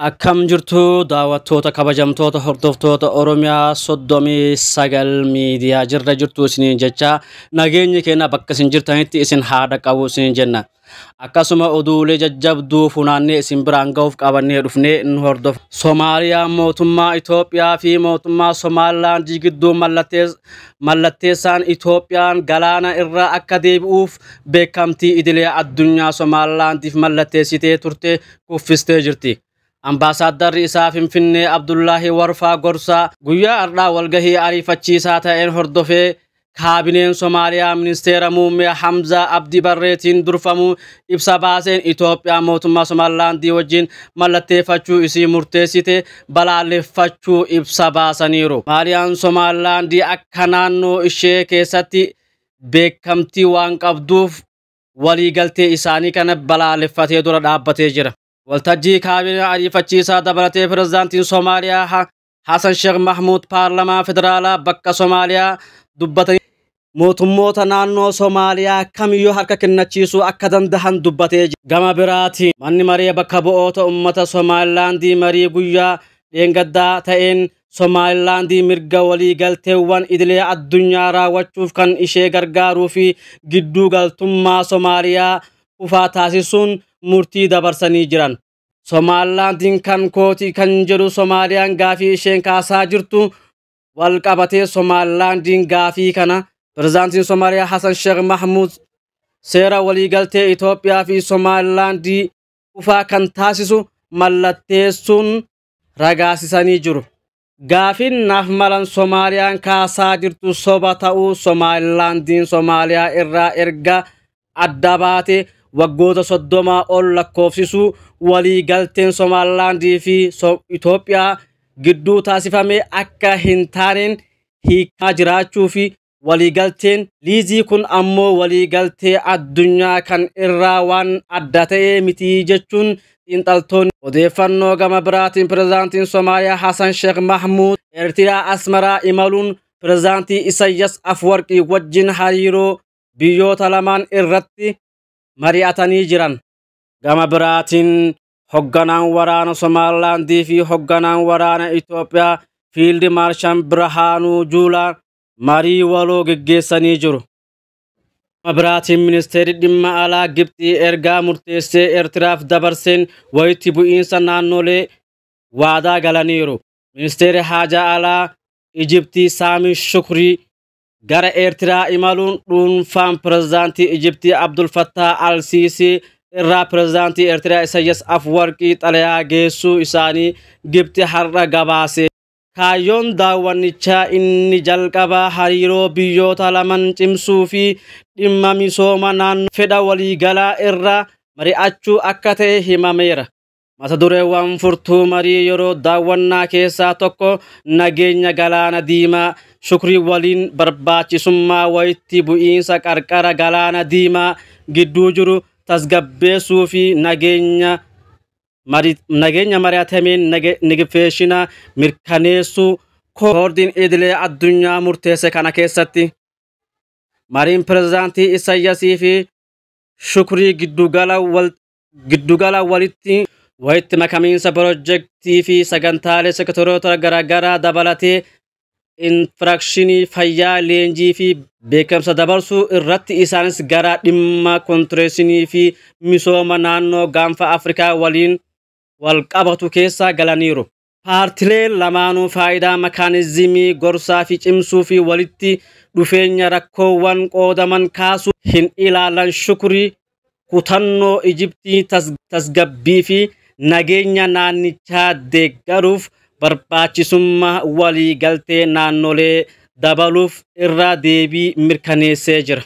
Akkam jirtu daawwattoota kabajamtoota hordoftoota Oromiyaa soddomii sagal miidiyaa jirra jirtu isiniin jecha nageenyi keenya bakka isin jirtanitti isin haa dhaqqabu isiniin jenna. Akkasuma oduulee jajjabduu funaannee isin biraan ga'uuf qabannee dhufnee nu hordofa. Somaaliyaa mootummaa Itoophiyaa fi mootummaa Somaalilaand gidduu mallattees- mallatteessaan Itoophiyaan galaana irraa akka deebi'uuf beekamtii idilee addunyaa Somaalilaandiif mallatteessitee turte kuffistee jirti. Ambaasaaddarri isaa Finfinnee Abdullaahi Warfaa Gorsaa guyyaa har'aa walgahii ariifachiisaa ta'een hordofee kaabineen Somaaliyaa ministeera muummee Hamzaa Abdi Barreetiin durfamu ibsa baaseen Itoophiyaa mootummaa Somaalilaandii wajjin mallatteeffachuu isii murteessite balaaleffachuu ibsa baasaniiru. Somaaliyaan Somaalilaandii akka naannoo ishee keessatti beekamtii waan qabduuf waliigaltee isaanii kana balaaleffatee dura dhaabbatee jira. Waltajjii kaabinaa ariifachiisaa dabalatee pirezidaantiin Somaaliyaa Ha- Hasan Sheekh Mahmuud paarlamaa federaalaa bakka Somaaliyaa dubbatanii mootummoota naannoo Somaaliyaa kamiyyuu harka kennachiisuu akka danda'an dubbatee jira. Gama biraatiin manni maree bakka bu'oota uummata Somaalilaandii marii guyyaa dheengaddaa ta'een Somaalilaandii mirga waliigalteewwan idilee addunyaa raawwachuuf kan ishee gargaaruu fi gidduu galtummaa Somaaliyaa kufaa taasisuun murtii dabarsanii jiran. Somaalilaandiin kan kooti kan jedhu Somaaliyaan gaafii isheen kaasaa jirtu wal qabatee Somaalilaandiin gaafii kana pirezidaantiin Somaaliyaa Hasan Sheekh Mahmuud seera waliigaltee Itoophiyaa fi Somaalilaandii kufaa kan taasisu mallatteessuun ragaasisanii jiru. Gaafiin naaf malan Somaaliyaan kaasaa jirtu soba ta'uu Somaalilaandiin Somaaliyaa irraa erga adda baate waggoota soddomaa ol lakkoofsisuu walii galteen Somaalilaandii fi Itoophiyaa gidduu taasifame akka hin taaneen hiikaa jiraachuu fi Waliigalteen liizii kun ammoo waliigaltee addunyaa kan irraa waan adda ta'ee miti jechuun xiinxaltoonni odeeffannoo gama biraatiin pirezidaantiin Somaaliyaa Hasan Sheekh Mahmuud Eertiraa Asmaraa imaluun pirezidaantii Isayyas Afwarqii wajjin hariiroo biyyoota lamaan irratti mari'atanii jiran. Gama biraatiin hogganaan waraana Somaalilaandii fi hogganaan waraana Itoophiyaa Fiildi Maarshaan Birhaanuu Juulaa marii waloo geggeessanii jiru. Gama biraatiin ministeerri dhimma alaa Gibxii ergaa murteessee Eertiraaf dabarseen walitti bu'iinsa naannolee waadaa galaniiru. Ministeerri haajaa alaa Ijibtii Saamii Shukrii gara Eertiraa imaluun dhuunfaan pirezidaantii Ijibtii Abdul Fattah Al-Siisii irraa pirezidaantii Eertiraa Isayyas Afwarqii xalayaa geessuu isaanii Gibxi har'a gabaasee. Kaayyoon daawwannichaa inni jalqabaa hariiroo biyyoota laman cimsuu fi dhimma misooma naannoo fedha waliigalaa irraa mari'achuu akka ta'e himameera. Mata dureewwan furtuu marii yeroo daawwannaa keessaa tokko nageenya Galaana Diimaa Shukrii waliin barbaachisummaa wayitti bu'iinsa qarqara Galaana Diimaa gidduu jiru tasgabbeessuu fi nageenya Mari- nageenya mari'atameen nage- nigifeeshina mirkaneessuu koordiin idilee addunyaa murteesse kana keessatti mariin pirezidaantii Isayyasii fi Shukrii giddugala wal giddugala walitti walitti makamiinsa pirojektii fi sagantaalee sektoroota garaagaraa dabalatee infiraakshinii fayyaa leenjii fi beekamsa dabarsuu irratti isaanis gara dhimma kontireeshinii fi misooma naannoo gaanfa Afrikaa waliin wal qabatu keessa galaniiru. Paartileen lamaanuu faayidaa makaanizimii gorsaa fi cimsuu fi walitti dhufeenya rakkoowwan qoodaman kaasuu hin ilaalan Shukrii kutannoo Ijiptii tasgabbii fi nageenya naannichaa deeggaruuf barbaachisummaa waliigaltee naannolee dabaluuf irra deebii mirkaneessee jira.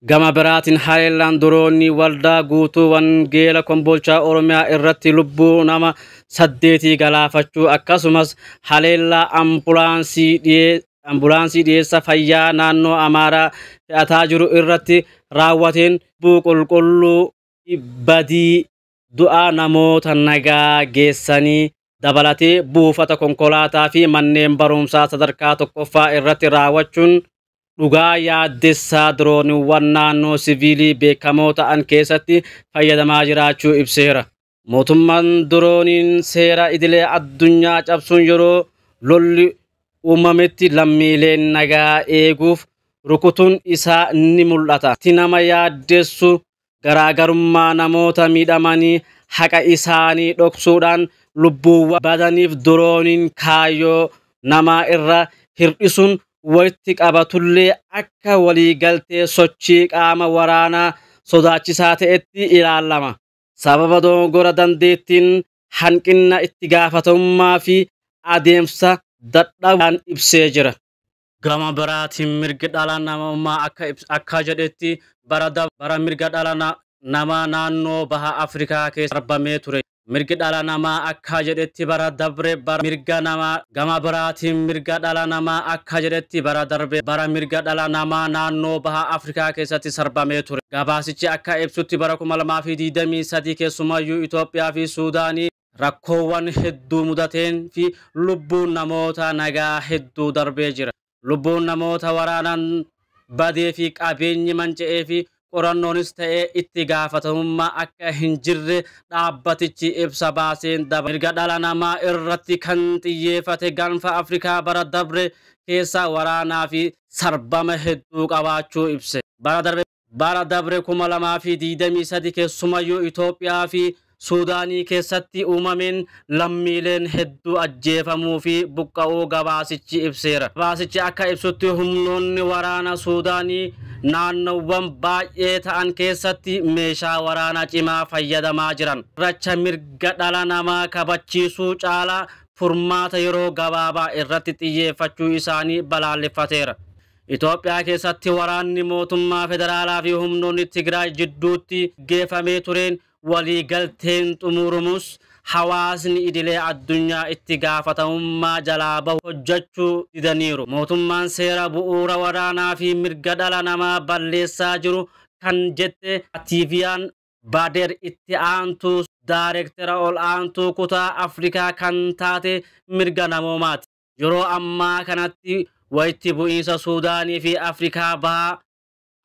Gama biraatiin haleellaan diroonii Waldaa Guutuu Wangeela Kombolchaa Oromiyaa irratti lubbuu nama saddeetii galaafachuu akkasumas haleellaa ambulaansii ambulaansii dhiyeessa fayyaa naannoo Amaaraa fe'ataa jiru irratti raawwateen lubbuu qulqulluu fi badii du'aa namoota nagaa geessanii dabalatee buufata konkolaataa fi manneen barumsaa sadarkaa tokkoffaa irratti raawwachuun dhugaa yaaddessaa dirooniiwwan naannoo siviilii beekamoo ta'an keessatti fayyadamaa jiraachuu ibseera. Mootummaan Dorooniin seera idilee addunyaa cabsuun yeroo lolli uumametti lammiileen nagaa eeguuf rukutuun isaa ni mul'ata. Wanti nama yaaddessu garaagarummaa namoota miidhamanii haqa isaanii dhoksuudhaan lubbuuwwan badaniif dorooniin kaayyoo namaa irra hir'isuun walitti qabatullee akka waliigaltee sochii qaama waraanaa sodaachisaa ta'etti ilaalama. sababa dogoggora dandeettiin, hanqinna itti gaafatamummaa fi adeemsa dadhabaan ibsee jira. Gama biraatiin mirgi dhala namummaa akka akka jedhetti bara dabre bara mirga dhala namaa naannoo baha Afrikaa keessa darbamee ture. Mirgi dhala namaa akka jedhetti bara dabre bara mirga namaa Gama biraatiin mirga dhala namaa akka jedhetti bara darbe bara mirga dhala namaa naannoo baha Afrikaa keessatti sarbamee ture. Gabaasichi akka ibsutti bara 2023 keessumayyuu Itoophiyaa fi Suudaanii rakkoowwan hedduu mudateen fi lubbuun namoota nagaa hedduu darbee jira. lubbuun namoota waraanan badee fi qabeenyi manca'ee fi qorannoonis ta'ee itti gaafatamummaa akka hin jirre dhaabbatichi ibsa baaseen dabalata. Mirga dhala namaa irratti kan xiyyeefate gaanfa Afrikaa bara dabre keessa waraanaa fi sarbama hedduu qabaachuu ibse. Bara darbe. Bara dabre 2023 keessumayyuu Itoophiyaa fi Suudaanii keessatti uumameen lammiileen hedduu ajjeefamuu fi buqqa'uu gabaasichi ibseera. Gabaasichi akka ibsutti humnoonni waraana Suudaanii naannowwan baay'ee ta'an keessatti meeshaa waraanaa cimaa fayyadamaa jiran. Racha mirga dhala namaa kabachiisuu caalaa furmaata yeroo gabaabaa irratti xiyyeeffachuu isaanii balaaleffateera. Itoophiyaa keessatti waraanni mootummaa federaalaa fi humnoonni Tigraay jidduutti geefamee tureen walii galteen xumuurumuus hawaasni idilee addunyaa itti gaafatamummaa jalaa bahu hojjachuu didaniiru. Mootummaan seera bu'uura waraanaa fi mirga dhala namaa balleessaa jiru kan jette Atiiviyaan Baadeer itti aantuu daarektera ol aantuu kutaa Afrikaa kan taate mirga namoomaati. Yeroo ammaa kanatti walitti bu'iinsa Suudaanii fi Afrikaa Bahaa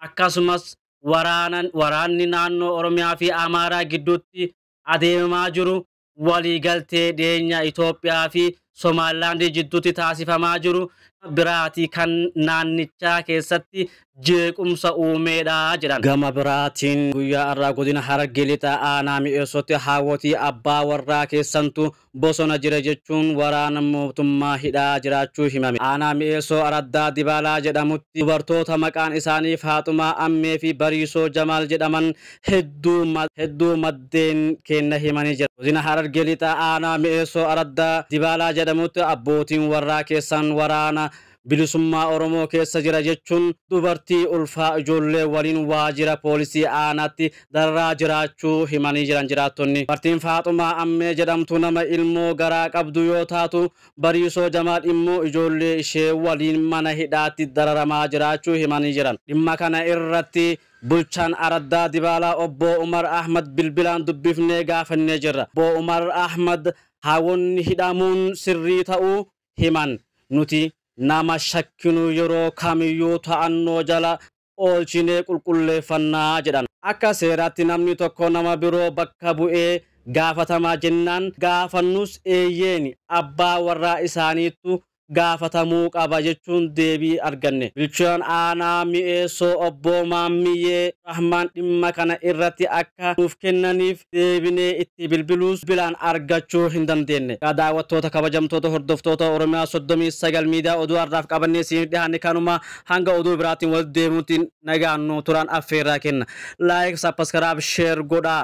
akkasumas waraanan waraanni naannoo Oromiyaa fi Amaaraa gidduutti adeemamaa jiru waliigaltee dhiyeenya Itoophiyaa fi Somaalilaandii jidduutti taasifamaa jiru biraatii kan naannichaa keessatti jeequmsa uumeedha jedhan. Gama biraatiin guyyaa har'aa godina Harargee Lixaa aanaa Mi'eessootti haawwotii abbaa warraa keessantu bosona jira jechuun waraana mootummaa hidhaa jiraachuu himame. Aanaa Mi'eessoo araddaa Dibaalaa jedhamutti dubartoota maqaan isaanii Faaxumaa Ammee fi Bariisoo Jamaal jedhaman hedduu hedduu maddeen keenna himanii jiran. Godina Harargee Lixaa Aanaa Mi'eessoo araddaa Dibaalaa jedhamutti abbootiin warraa keessan waraana Bilisummaa Oromoo keessa jira jechuun dubartii ulfaa ijoollee waliin waajjira poolisii aanaatti dararaa jiraachuu himanii jiran jiraattonni. Dubartiin Faaxumaa Ammee jedhamtu nama ilmoo garaa qabdu yoo taatu, Bariisoo Jamaal immoo ijoollee ishee waliin mana hidhaatti dararamaa jiraachuu himanii jiran. Dhimma kana irratti bulchaan araddaa Dibaalaa Obbo Umar Ahmad bilbilaan dubbifnee gaafannee jirra. Obbo Umar Ahmad haawonni hidhamuun sirrii ta'uu himan. Nuti nama shakkinu yeroo kamiyyuu to'annoo jala oolchinee qulqulleeffanna jedhan. Akka seeraatti namni tokko nama biroo bakka bu'ee gaafatamaa jennaan gaafannus eeyyeeni abbaa warraa isaaniittu gaafatamuu qaba jechuun deebii arganne. Bulchaan aanaa Mi'eessoo obbo Maammiyyee Rahmaan dhimma kana irratti akka nuuf kennaniif deebinee itti bilbiluus bilbilaan argachuu hin dandeenne. Egaa daawwattoota kabajamtoota hordoftoota Oromiyaa 39 Miidiyaa oduu har'aaf qabannee isiniif dhihaanne kanuma hanga oduu biraatiin walitti deebinutti nagaan nuu turaan affeerraa kenna. Like, Subscribe, Share godhaa.